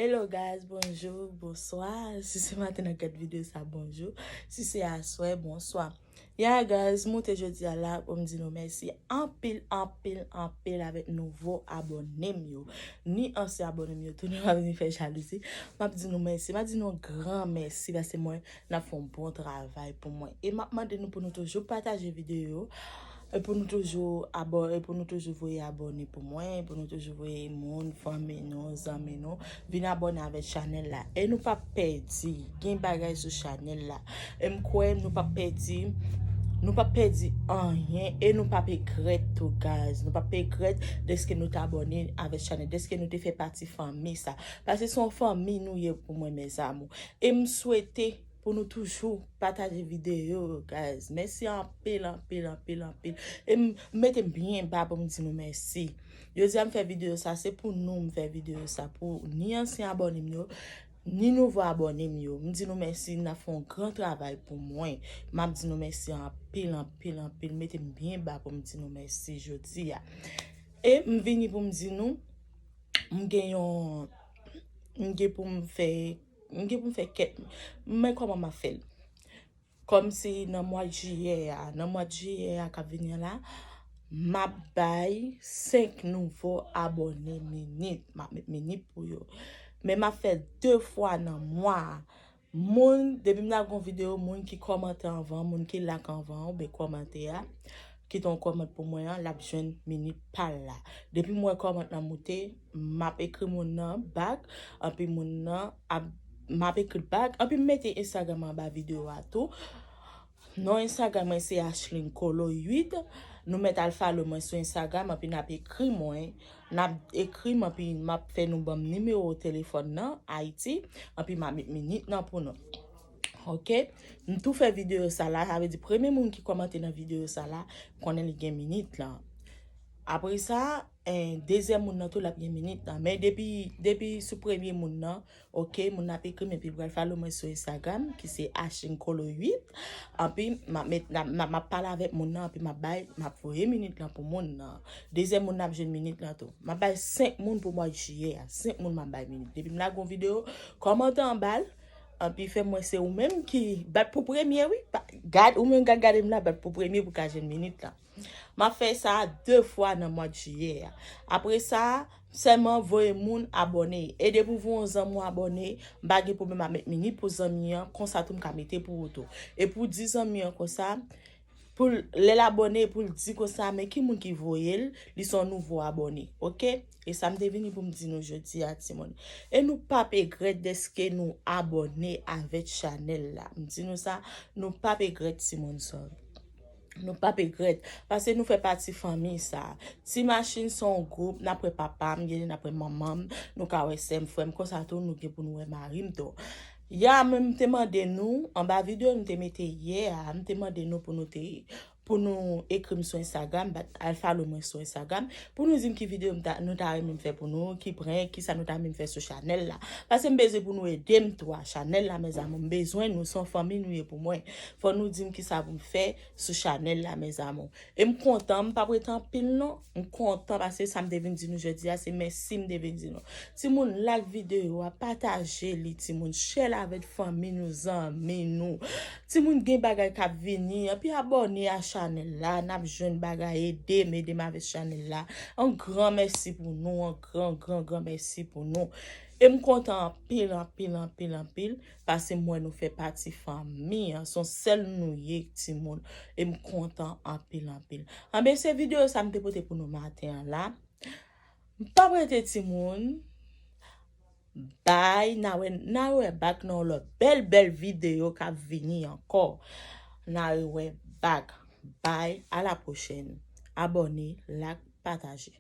Hello guys bonjour, bonsoir, si se maten nan gad video sa bonjour, si se aswè bonsoir. Yeah guys m moute jodi a la pou m di nou mèsi anpil anpil anpil avèk nouvo abòne m yo ni ansyen abòne m yo tou nou pa vini fè jalouzi m ap di nou mèsi m ap di nou yon gran mèsi paske m wè n ap fè yon bon travay pou mwen e m ap mande nou pou nou toujou pataje videyo E pou nou toujou abò e pou nou toujou voye abòne pou mwen e pou nou toujou voye moun fanmi nou zanmi nou vin abòne avèk chanèl la e nou pap pèdi gen bagay sou chanèl la e m kwè nou pap pèdi nou pap pèdi anyen e nou pap egrèt tou guys nou pap egrèt deske nou t abòne avèk chanèl deske nou te fè pati fanmi sa paske son fanmi nou ye pou mwen mes amour e m swete Pou nou toujou pataje video yo guys. Mèsi anpil, anpil, anpil, anpil. E m mete byen ba pou m di nou mèsi. Jodi a m fè video sa, se pou nou m fè video sa. Pou ni ansyen abòne m yo, ni nouvo abòne m yo. M di nou mèsi, n ap fè yon gran travay pou mwen. M ap di nou mèsi anpil, anpil, anpil. M mete m byen ba pou m di nou mèsi jodi a. E m vini pou m di nou, m gen yon, m gen pou m fè. M gen pou m fè kèk Men kòman m ap fè l Kòm se nan mwa jiyè a Nan mwa jiyè a k ap vini an la M ap bay 5 nouvo abòne meni M ap met meni pou yo Men m ap fè l 2 fwa nan mwa a Moun Depi m lage yon videyo moun ki kòmante anvan Moun ki like anvan ou ben kòmante a Kite yon kòmant pou mwen an l ap jwenn meni pa l la Depi m wè kòmant la moute Map ekri moun nan back anpi moun nan ap map ekri back anpi m mete Instagram anba video a tou non Instagram mwen se Ashline Colo 8 nou mèt al follow mwen sou Instagram anpi nap ekri mwen nap ekri m anpi map fè nou banm nimewo telefòn nan Ayiti anpi ma met minit nan pou nou ok m tou fè video sa la sa vle di premye moun ki kòmante nan video sa la konnen li gen minit lan apresa. En dezyèm moun nan tou lap gen minit nan men depi depi sou premye moun nan ok moun nan ap ekrim epi pral follow mwen sou Instagram ki se ashingkolo 8 anpi map met map pale avèk moun nan anpi map bay map voye minit lan pou moun nan dezyèm moun nan ap jwenn minit lan tou map bay 5 moun pou mwa jiyè a 5 moun map bay minit depi m lage yon video kòmante anbal anpi fèm wè se ou menm ki bat pou premye wi gad ou menm kap gadem la bat pou premye pou ka jwenn minit lan. M ap fè sa 2 fwa nan mwad jiyè a. Apre sa, sèlman voye moun abòne. E depi ou voye yon zanmi w abòne, m pa gen pwoblèm a met mini pou zanmi an, konsa tou m ka mete pou ou tou. E pou di zanmi an konsa, pou l, lè l abòne, pou l di konsa, men ki moun ki voye l, li se yon nouvo abòne. Ok? E sa m te vini pou m di nou jodi a ti moun. E nou p ap egrèt dèske nou abòne avèk chanèl la. M di nou sa, nou p ap egrèt ti moun. Sorry. Nou pap egrèt, pase nou fè pati fanmi sa. Ti machin se yon gwoup, nap wè papa m, genlè nap wè manman m, nou ka wè sè m, frè m, konsa tou nou gen pou nou wè mari m tou. Ya men m te mande nou, anba video m te mete yè a, m te mande nou pou nou te, pou nou ekri m sou Instagram, bat al follow mwen sou Instagram, pou nou di m ki video m ta, nou ta renmen m fè pou nou, ki prank, kisa nou ta renmen m fè sou chanèl la. Pase m bezwen pou nou ede m tou a chanèl la mèzamou, m bezwen nou, se yon fanmi nou ye pou mwen. Fò nou dim kisa pou m fè sou chanèl la mes amour. E m kontan, m pap rete anpil non. M kontan pase sa m te vin di nou jodi a se mèsi m te vin di nou. Timoun like videyo a, pataje li timoun, share l avèk fanmi nou, zanmi nou. Timoun gen bagay k ap vini, epi abòne a chanèl la, n ap jwenn bagay, ede m, ede m avèk chanèl la. Yon gran mèsi pou nou, yon gran gran gran mèsi pou nou. E m kontan anpil, anpil, anpil, anpil. Pase m wè nou fè pati fanmi an. Son sèl nou ye timoun. E m kontan anpil anpil. Anben se videyo sa m te pote pou nou maten an la. M pap rete timoun. Bye. N a wè n a wè bak nan yon lòt bèl bèl videyo k ap vini ankò. N a rewè bak. Bye. A la pwochèn. Abòne, like, pataje.